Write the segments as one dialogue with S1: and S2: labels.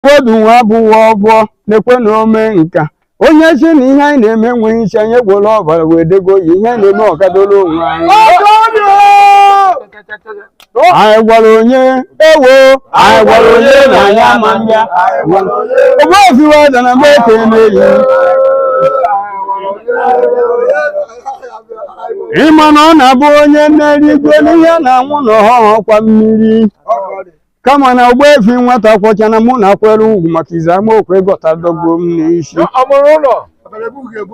S1: Odu nwa abụghị ọbọ na-ekwe na ome nka onye si na ihe anyị na-eme enweghị isi anyị egbola ọbara wee dego ya ihe anyị na-eme ọkadoro onwe anyị anyị gwara onye ewo anyị gwara onye na anyị ama mbịa ogbe ofiwe ọda na mgbe eke na-eyi ịma na ọ na-abụ onye na-eri igwe n'ihe na-anwụ na ọhụhụ kwa mmiri kama na ogbuefi nwata kwọcha na mụ na akwere ugwu maka ize amaokwu ịgọta dọgbuo m n'isi Ọ mụrụ ụlọ.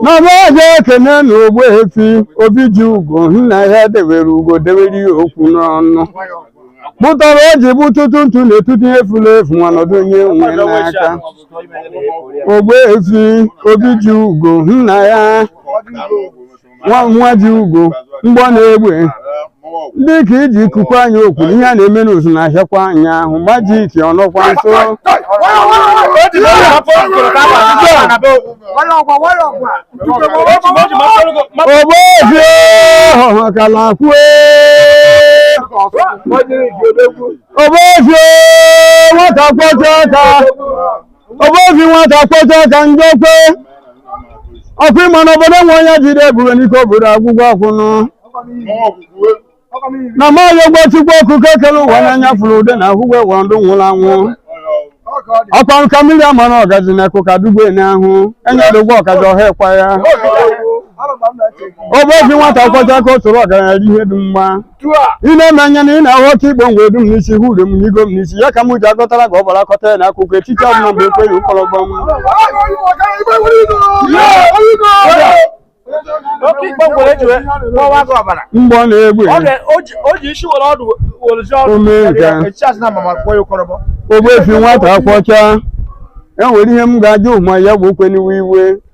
S1: n'ọba ọzọ ekene na ogbuefi obi ji ugo nna ya debere ugo debere ya okwu n'ọnụ bụtara o ji bụ tụtụ ntụ na-atụtụ ihe furu efu ma nọdụ onye nwe n'aka ogbuefi obi ji ugo nna ya nwa nwa ji ugo mgbọ na egbe ndị ka iji ikuku anyị okwu ihe a na-eme n'ụzụ na-ahịakwa anyị ahụ majik ọnọkwa nso ogbuefi ọha kalakwue ogbuefi nwata kwọcha aka ogbuefi nwata kwọcha aka ndo kwe ọkwa ị ma na obodo nwe onye jide ebube n'ike obodo agwụgwọ akwụnụ na ma ayọgwo Chukwu okike kele ụwa n'anya fụrụ ude na ahụgwọ ụwa ndụ nwụrụ anwụ ọkwa nka mmiri ama na ọgazi na nku ka dugbe n'ahụ enye dogbo ọgazi ọha ekwa ya ogbuefi nwata kwọcha aka o soro ọgaranya ri ihe dị mma ị na-eme anya na ị na-ahụ oke igbo ngwa edu m n'isi hụ ure m n'igo m n'isi ya ka m ji agọtara ka ọ bara akọta ya na akụkọ echiche ọbụla mgbe ekweghị ụkọrọ gbanwe oke ikpe ngwere eji wee kpọwa gị ọbara mgbọ na egbe Ọ ga- o ji- o ji isi were ọdụ were ji ọdụ Ome nke. ya echiche asị na mama kpọ ya ụkọrọbọ ogbuefi nwata kwọcha e nwere ihe m ga-ajụ ma ya bụ okwu na-ewe iwe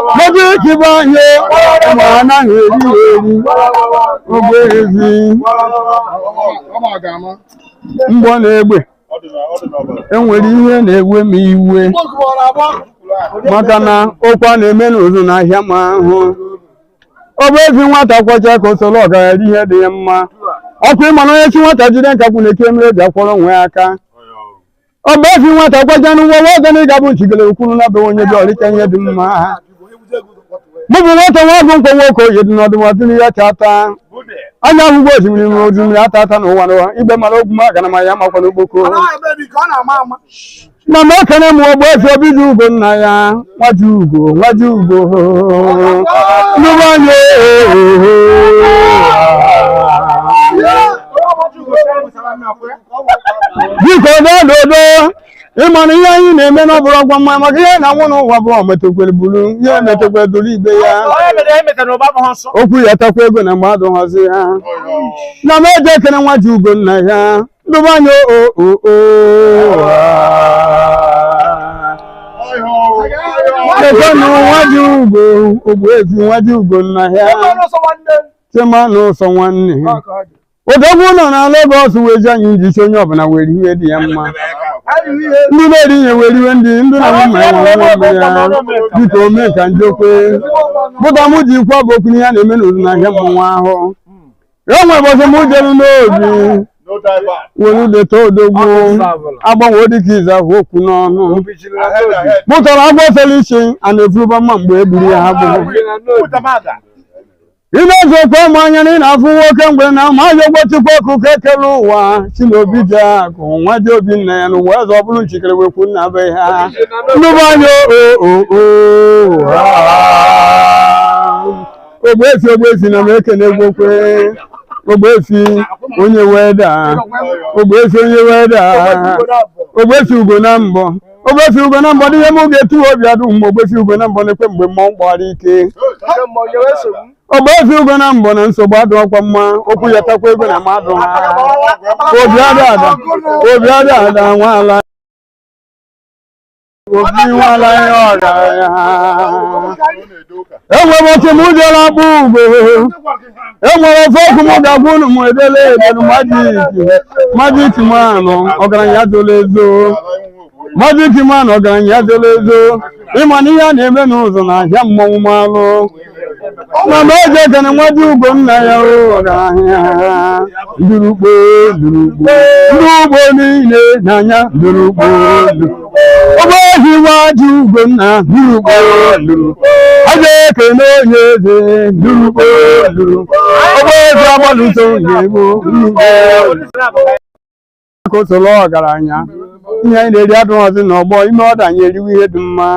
S1: Ọ dị ka be anyị ụmụ anahụ eri eri ogbuefi. Mgbọ na egbe. Enwere ihe na-ewe m iwe. Maka na okwu na-eme n'ụzụ na-ahịa m ahụ. Ogbuefi nwata kwọcha aka o soro ọgaranya ihe dị ya mma. Ọkwa ị ma na onye sị nwata jide nkakwụ nyekwa mmiri eji akwọrọ onwe ya aka. ogbuefi nwata kwọchanụ nwa nwa ọgana ịga bụ nchigele ukwuru na be onye dị ọrịcha ihe dị mma mụ bụ nwata nwa bụ nkwa nwoke oyi dị n'ọdụ ma dịrị ya chata anya ahụgwọ osimiri ma osimiri ata ata n'ụwa n'ụwa igbe mara ogwu ma gana ma ya makwa n'okpoko na m ekene m ogbuefi obi ji ugo nna ya nwa ji ugo nwa ji ugo nnukwu anya ohoho biko dododo ịmana ihe anyị na-eme na ọ bụrụ ọgwa mma maka ihe na nwụ n'ụwa bụ ometekwere buru ihe ometekwere doro ibe ya Onye mere ya emeta na ụba abụghị nsọ. okwu ya takwa ego na mmadụ hazi ya na m eji ekene nwa ji ugo nna ya ndụba anya o o o chetanụ nwa ji ugo ogbu ezi nwa ji ugo nna ya Onye ọrụ ọsọ nwanne. chema na ụsọ nwanne Ọ ka ọ dị. odogwu nọ na Lagos wee ji anyị njichi onye ọbụla were iwe dị ya mma ndị na-eri ihe were iwe ndị ndị na mma ya nwere nwa mmiri ya dịka ome ka njekwe bụta m ji ekwu a bụ okwu n'ihe a na-eme n'ụzọ na ahịa mmọnwụ ahụ e nwere ụbọchị m jere n'obi were udeta odogwu agbanwe dịka izu ahụ okwu n'ọnụ pụtara agwọ fere isi a na-efuruba mma mgbe e gburu ya ha gburu ị na-eji okwu ama anya na ị na-afụ nwoke mgbe na ma ya ụgwọ chukwu ọkụ ka ekele ụwa si n'obi ji akụ nwa ji obi nna ya n'ụwa eze ọ bụrụ nchikere wekwu nna be ha nnụbụ anya ogbuefi ogbuefi na m ekene gwokwe ogbuefi onye weda ogbuefi onye weda ogbuefi ugo na mbọ ogbuefi ugo na mbọ n'ihe m ga-etu obi adụ mgbe ogbuefi ugo na mbọ na-ekwe mgbe mmọnwụ gbara ike ogbuefi ugo na mbọ na nsogbu adụ ọkwa mma okwu ya takwa ego na mmadụ ha obi adị ada obi adị ada nwaala obi nwaala ihe ọrịa ya enwere otu m ụjọla akpụ ugo e nwere ofu okwu m ga-agwa unu m edele edelu majik malụ ọgaranya zola ezo majik malụ ọgaranya zola ezo ịma na ihe a na-eme n'ụzọ na ahịa mmọnwụ malụ na m eji ekene nwa ji ugo nna ya o ọgaranya ndurukpo ndurukpo ndị ugbo niile n'anya ndurukpo ọgbọ ohi nwa ji ugo nna ndurukpo ndurukpo a ga-ekele onye eze ndurukpo ndurukpo ọgbọ eze agbalụso onye egbo ndurukpo ka o soro ọgaranya ihe anyị na-eri adụghọzi n'ọgbọ ime ọda anyị eriwe ihe dị mma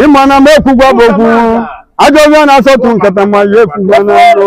S1: ịma na mgbe ekwugwa bụ okwu ajọ ọhịa na-asọtụ nkata ma ya ekwugwa n'ọrụ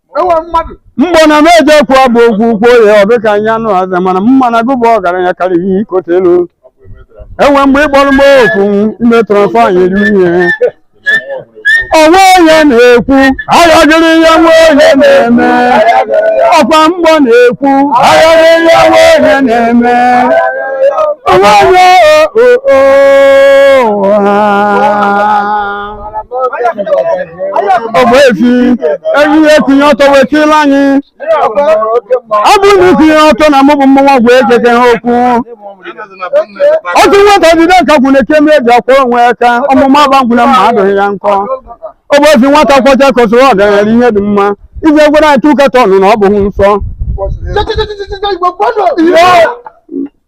S1: mgbe na m eji ekwu a bụ okwu ukwu oye ọ dịka anya anụ aza mana mma na-egbu ọgaranya karịrị ihe ikote elu enwe mgbe ịkpọrọ m okwu ime trọfọ anyị eri ihe o nwe onye na-ekwu ayọgịrị ihe nwe onye na-eme ọkwa mgbọ na-ekwu ayọgịrị ihe nwe onye na-eme o nwe onye o o o ha Ogbuefi enyi ya etinye ọtọ wee tiela anyị ọ bụrụ na itinye ọtọ na mụ bụ mmụnwa gwa egege ha okwu otu nwata jide aka kwụ na ekeme eji akwa onwe ya ka ọmụma agba ngwụ na mma adụghị ya nkọ Ogbuefi nwata kwọcha aka o soro ọgaranya ihe dị mma iji egwere anyị tụ katọn na ọ bụghị nsọ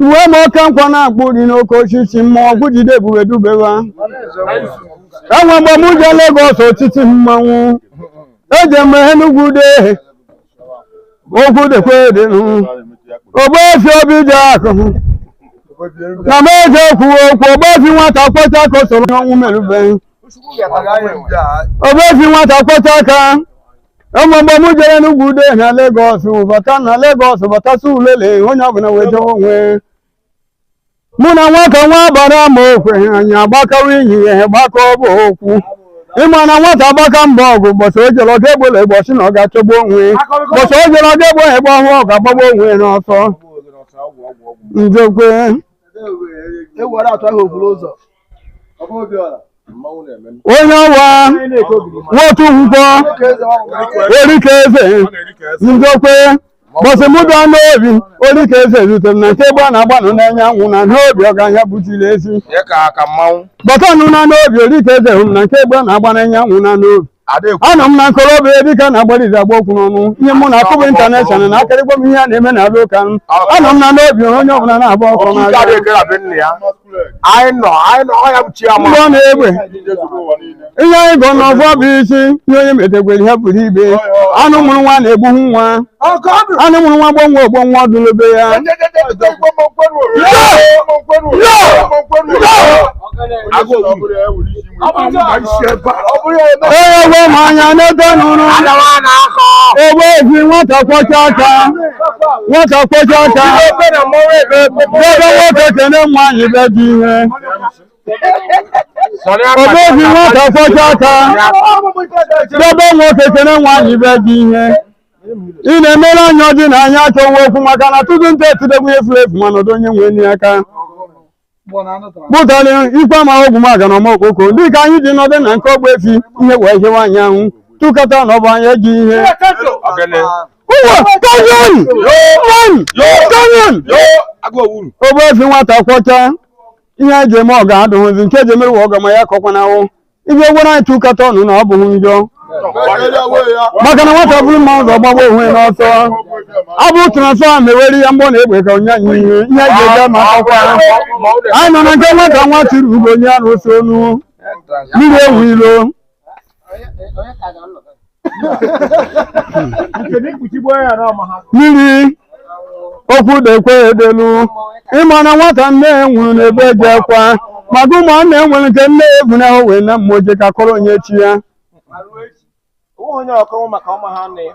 S1: Uwe m oke nkwọ na-akpụ dị n'oke osisi mmụọ ọgwụ jide ebube dubewa. Enwe mgbe m je Legọs otiti mmanwụ. Eje m Enugwu de okwu dịkwa edịnụ. Ogbuefi obi ji akụ. Na m eje kwuo okwu ogbuefi nwata kwọcha aka o soro n'ọnwụ merube. Ogbuefi nwata kwọcha aka enwe mgbe m jere n'ugwu ude na Legọs bata na Legọs bata Surulere onye ọbụla wee jewe onwe mụ na nwata nwa bara ma okwe anyị agbakawa inyi ihe gbakọ bụ okwu ịma na nwata agbaka mba ọgụ mbọsị o jere ọga egbole mbọsị na ọ ga-achọgbu onwe mbọsị o jere ọga egbo ya egbe ọhụụ ọ ga-agbagbu onwe ya n'ọsọ njekwe onye ọwa nwotu nkwọ ori ka eze njokwe mbọsị m bịa n'obi ori ka eze rutere na nke egbe a na-agba n'anya anwụ na n'obi ọgaranya butiri ezi batanụ na n'obi ori ka eze hụrụ na nke egbe a na-agba n'anya anwụ na n'obi anọ m na nkolobịa ebe ike na-agbalizi agba okwu n'ọnụ ihe mụ na akụbụ intaneshọnal na akarị gwa m ihe a na-eme na abịa ụka anọ m na n'obi onye ọbụla na-agba ọkụ n'aka mgbe ọ na-egbe ihe anyị gọ n'ọfọ bụ isi ihe onye metegwere ihe pụrụ ibe anụ mụrụ nwa na-egbuhu nwa anụ mụrụ nwa gbuo nwa o gbuo nwa ọdụlobe ya ewe m anya n'ebe nụrụ ogbuehi nwata kwọcha aka nwata kwọcha aka ebe nwoke kene nwaanyị be dị ihe ogbuehi nwata kwọcha aka ebe nwoke kene nwaanyị be dị ihe ị na-emere anyị ọ dị n'anya achọwa okwu maka na tutu ntị etidegbu efu efu mana ọ dụ onye nwe enyi aka kpụtara ikwe amaghị ogwu maga na ọmokpoko dịka anyị ji nọdụ na nke ogbuefi ihe wee hiewe anyị anwụ tụkọta na ọ bụ anyị eji ihe ụwa kanyon kanyon ogbuefi nwata kwọcha ihe eji eme ọga adụghịzi nke eji emerụ ọga ma ya kọkwa na awụ ibe gwara anyị tụkọta ọnụ na ọ bụghị njọ maka na nwata buru mma ụzọ gbagbuo onwe ya n'ọsọ ọ bụ transfa ma ewere ya mgbọ na egbe ka onye anyị ihe ihe eji eje ma akọkwa anyị nọ na nke nwata nwa chiri ugo onye a na-ose ọnụ mmiri ewu ilo mmiri okwu dekwe edelu ịma na nwata nne ya nwụrụ n'ebe eji akwa maka ụmụ nne ya nwere nke nne ya ebu na ahụ wee na mmụọ je ka kọrọ onye chi ya onye ọkọnwụ maka ọma ha nne ya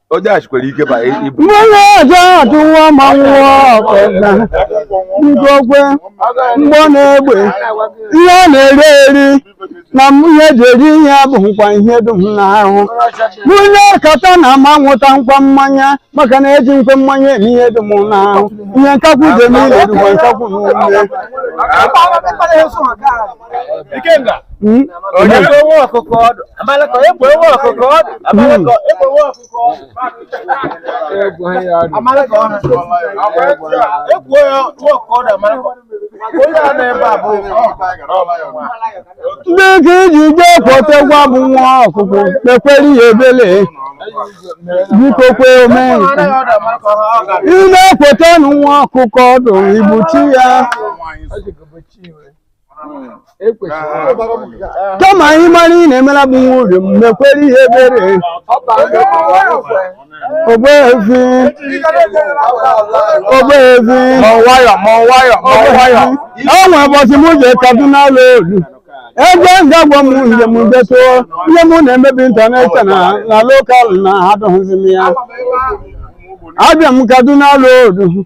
S1: onye achikwere ike ba ibu mgbe ọjọ atụwa ma nwụọ ọkọna ngwogwe mgbọ na egbe ihe ọ na-eri eri na m ihe eji eri ihe bụ nkwa ihe dum n'ahụ nwunye kata na ama nwụta nkwa mmanya maka na eji nkwe mmanya eme ihe dum n'ahụ ihe nkakwụ ga-eme ile dịkwa nkakwụ n'ume dịka iji jee kpọtekwa bu nwa ọkụkọ mekwere ya ebele biko kwe ome ị na-ekweta nwa ọkụkọ ọdụ igbuchi ya kama anyị mara ị na-emela gbu nwa uriom mekwere ya ebere ogbeefi ogbeefi mọwayọ mọwayọ mọwayọ o nwe ụbọchị m je kaduna ụlọ olu ebe m ga-agwa m ihe m detụ ihe m na-eme bụ international na local na adụghịzi m ya abịa m kaduna ụlọ olu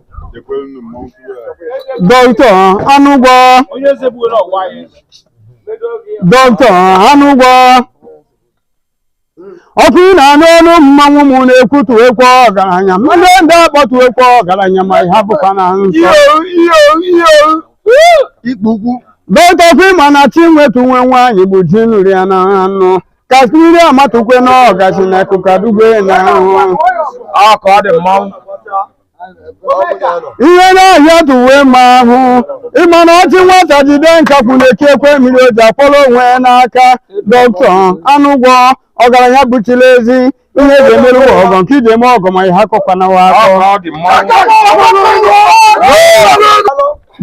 S1: dọkịta Anụgwọ dọkịta Anụgwọ ọkwa ị na-anụ ọnụ mmanwụ m na-ekwutu ekwe ọgaranya ndị ndị akpọtu ekwe ọgaranya ma ha bụkwa na nsọ dọkịta ọkwa ịma na chi nwetu nwe nwaanyị bụ ji nri ya na anụ ka mmiri amatụkwe na ọgachi na akụkọ dugbe na ahụ ọkọ dị mmanwụ ihe n'ahịa dị uwe ma ahụ ịma na ọ sị nwata jide nkakwụ na-eke ekwe mmiri o ji akwọrọ onwe ya n'aka dọkịta Anụgwọ ọgaranya buchiri ezi ihe eji emere ụwa ọgọ nke iji eme ọgọ ma ihe akọkwa na wa akọ Ọ dị mma.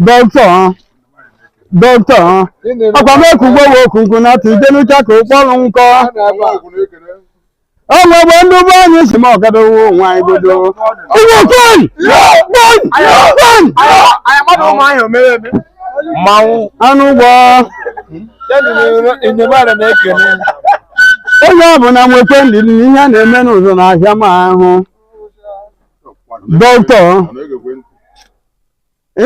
S1: dọkịta dọkịta ọkwa mee ka ugbo wee okunku na atụ ije n'ụcha ka ụkpọrụ nkọ o nwegbe ndị be anyị si m ọgabewo onwe anyị godo ụmụ kwan kwan kwan Anyị mmadụ ụmụ anyị omere eme. Mmanwụ. anụ ụgbọ Enyemara na-ekene. onye ọbụla nwekwe ndidi ihe a na-eme n'ụzọ na ahịa ma ahụ dọkịta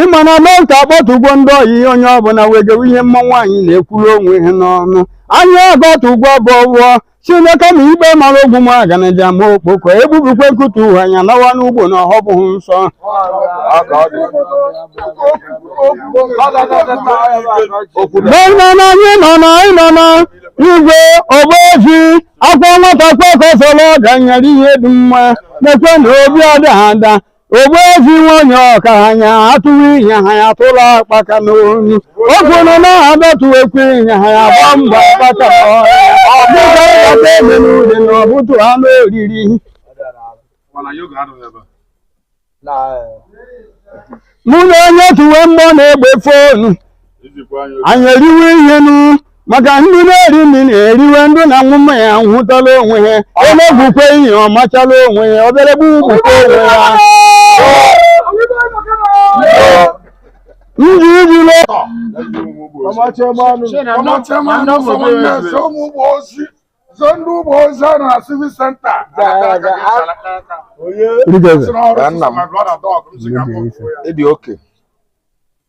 S1: ịma na mee ka akpọtụgwo ndị ọyị ihe onye ọbụla wegewe ihe mma nwaanyị na-ekwuru onwe ha n'ọnụ anyị agọtụgwo bụ ọgwọ chineke ma ikpe mara ogwu m aganaja ma okpoko egbubikwe nkụta uwe anya nawa n'ugbo na ọhọ bụghị nsọ ana na anyị nọ na anyị nọ na igwe ogbuefi akwa nwata kpọkọsọrọ ọganyere ihe dị mma nekwe na obi ada ada ogbuefi nwanyị ọgaranya atụrụ ihe ha ya tụrụ akpaka n'onu oge nọ na-abatụ ekwe ihe ha ya gba mgba akpaka n'ọhịa dịka ịkpata ebe n'ude na ọbụtụ anụ oriri mụ na onye tuwe mmụọ na-egbe fonu anyị eriwe ihe nụ maka ndị na-eri nri na-eriwe ndị na-aṅụ mmanya ṅụtala onwe ha onye bụkwa ihe ọ machala onwe ya ọbịala egbu gbukwa onwe ya ndị ijele Zondu ụgbọ ozi a na civil center. Ịdị oke.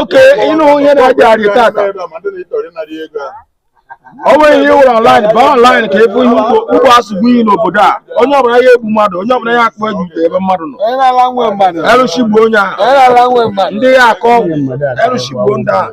S1: oke ịnụ ihe na-adịgharị tata ọ nweghị ihe ịwụrụ ọnlaịn baa ọnlaịn ka ị fụ ihe ugbo asụgbu iyi n'obodo a onye ọbụla ya egbu mmadụ onye ọbụla ya akpụ eji ute ebe mmadụ nọ erụshị gbuo onye ahụ ndị ya akọ ọgwụ erụshị gbuo ndị ahụ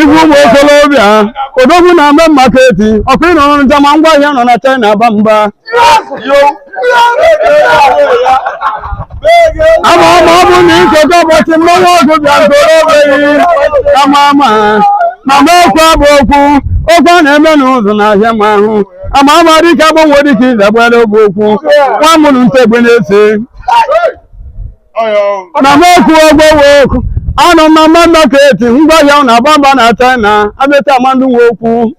S1: Ibu ụmụ okorobịa odogwu na Main Market ọkụ ịnọ ọrụ njama ngwa ahịa nọ na China agba mba ama ama ọ bụ na nkekọ ụbọchị mmanwụ ọgụ bịa ntorobeghi ama ama ma ma okwu abụ okwu okwu a na-eme n'ụzọ n'ahịa ma ahụ ama ama dike agbanwe dịka ịzagbara ogbe okwu nwa mụrụ ntegbe na-ese na m okwu ogbowe okwu anọ m na Main Market ngwa ahịa na agba mba na china abịata amandụ nwe okwu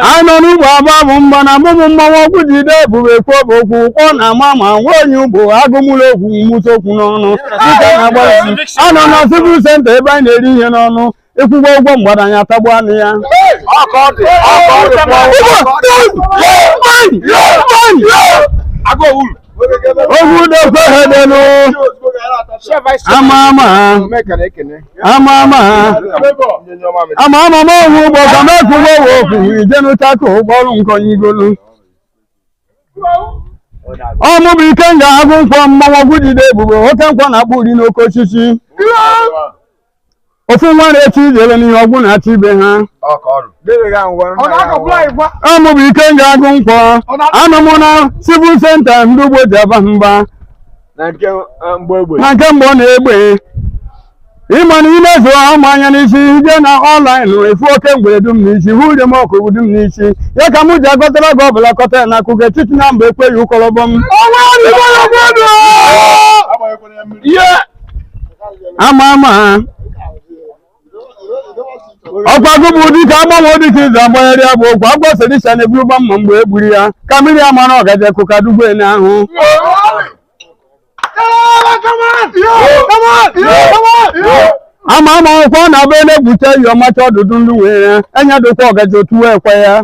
S1: anyị nọ n'ugbo agba bụ mgba na mụmụ mmanwụ ọgwụ jide ebube kwube okwu kpọ na ama ma nwa onye ugbo agụmụlọ okwu mụta okwu n'ọnụ dịka na-agbara anọ na sivil senta ebe anyị na-eri ihe n'ọnụ ịkwụgwọ ụgwọ mgbada anyị atagbu anụ ya ogwudekwe ha delu ama ama ama ama ama ama m ohu ụgbọ ka m ekwugbo we okwu ijenuta ka ụgbọrụ nkọnyigolu ọ mụ bụ ikenga agụ nkwọ mmanwụ ọgwụ jide ebube oke nkwọ na-akpụ uri n'oke osisi ofu nwa na-echi ijele n'ihe ọgwụ na-achị ibe ha a mụ bụ ikenga agụ nkwọ anụ m na civil center ndị ugbo ji aba mba na nke mgbọ na egbe ịma na ime zụọ ama anya n'isi ije na ọnlaịn efu oke mgbere dum n'isi hụ ude m ọkụgụ dum n'isi ya ka mụ ji agọtara gị ọbụla kọta ya na akụkọ etiti na mba ekweghị ụkọrọbọ m ihe ama ama ọ kwa gị bụ dike agbanwe dike izu agbanyere ya bụ okwu agwọ sedisha na-eburu gba mma mgbe e gburu ya ka mmiri ya mara ọgaje kụka dugbo ene ahụ ama ama ọ kwa ọ na-abụ ele gbute iyi ọ macha ọdụdụ ndị nwere anya dokwa ọgaje otu wee kwa ya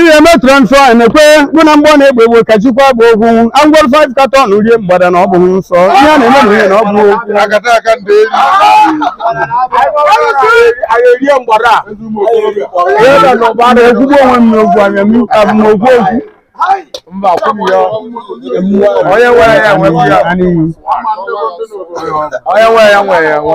S1: ihe eme transfa na-ekwe mụ na mgbọ na egbe egbe ka chikwa bụ okwu angwọrọ 5 katọn rie mgbada na ọ bụghị nsọ ihe a na-eme na ihe na ọ bụ okwu akata aka ndị enyi ekwugbo onwe m n'okwu anya m abụ m okwu okwu mba kwụrụ ya onye nwere ya nwe ya onye nwere ya nwere ya nwe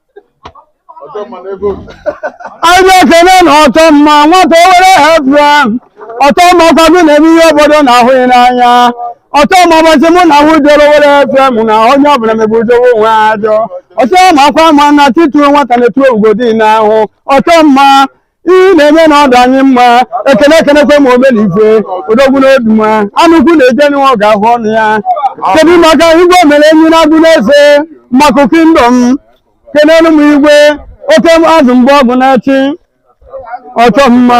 S1: anyị ekele na ọtọ mma nwata owere hebra ọtọ mma ọ kwa gị na-eme ihe obodo na-ahụghị n'anya ọtọ mma ụbọchị mụ na ahụ jere owere hebra mụ na onye ọbụla mebe udowe onwe ha ajọ ọtọ mma akwa ma na tituo nwata na-etu ogodi na ahụ ọtọ mma ihe na-eme na ọ dụ anyị mma ekene ekenekwa m omena ife odogwu n'Oduma anụ ukwu na-eje n'iwe ọ ga-ahụ ọnụ ya kedu maka igwe omere enyi na Agụneze Mmaku kingdom kenelu m igwe oke azụ mgbe ọgụ na-achị ọchọ mma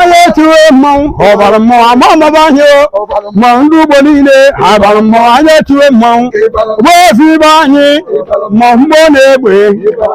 S1: onye tiwe mmanwụ ọ bara mmọnwụ ama amaba anyị o ma ndị ugbo niile ha bara mmọnwụ anyị etiwe mmanwụ gbaozi ibe anyị ma mgbọ na egbe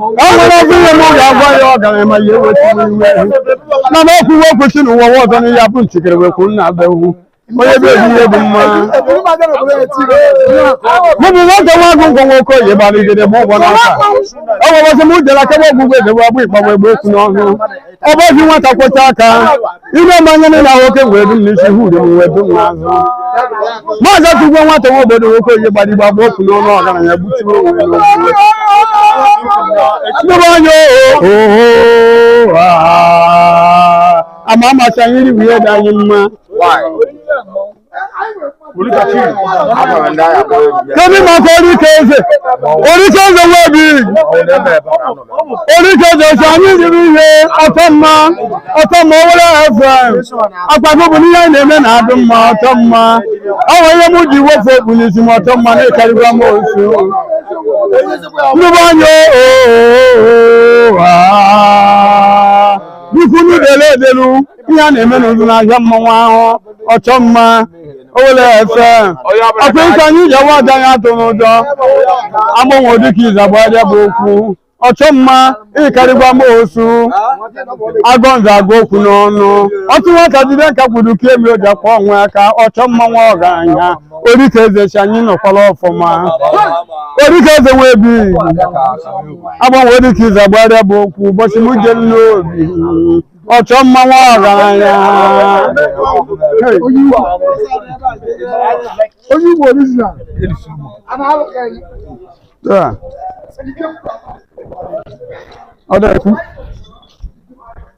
S1: ọ nwere ọgụ ihe m ga-agwa ya ọ gara ma ya ewetụrụ iwe ehu na m ekwuwe okwu si n'ụwa nwa ọzọ n'ihe abụ nchikere wee kwuru na abịa ewu onye be ebi ihe bụ mma mụbụ nwoke nwa agụ ngwọ nwoke oyi gbara igede ma ụgwọ n'aka ọ gwara ọsị m jere akebe ọgwụgwọ edebe agbụ ịkpagbu egbe okwu n'ọnụ ọ bụ ozi nwata kwọchaa aka ime mmanya niile ahụ oke wee dum n'isi hụ ude m wee dum n'azụ maazị atụgwo nwata nwa obodo nwoke onye gbara igbe agba ofu n'ọnụ ọgaranya gbutuo onwe ya n'ogbe Ndị be anyị oho ama amasị anyị iri bụ ihe dị anyị mma Why? Kedu maka orike eze? Orike eze webi. Orike eze si anyị ribe ihe ọchọ mma ọchọ mma owere FM. Akwado bụ n'ihe anyị na-eme na-adị mma ọchọ mma. Ọ nwere ihe m ji wepụ okpu n'isi m ọtọ mma na-ekarịba m osu. Ndị be anyị oo. Biko unu dele edelu. ihe a na-eme n'olu n'ahịa mmanwụ ahụ ọchọ mma owere FM ọkwa ike anyị ji awa aja ya atụ n'ụjọ agbanwe dike izu agbarịa bụ okwu ọchọ mma ị karịgwa m osu agọ nza agụ okwu n'ọnụ ọtụ nwata jide nkakwụ dobe mmiri o ji akwọ onwe ya aka ọchọ mma nwa ọgaranya orike eze chi anyị nọkwara ọfụma orike eze nwe bi agbanwe dike izu agbarịa bụ okwu ụbọchị m je n'obi ọchọ mma nwa ọgaranya onye Igbo original Taa. ọ na-ekwu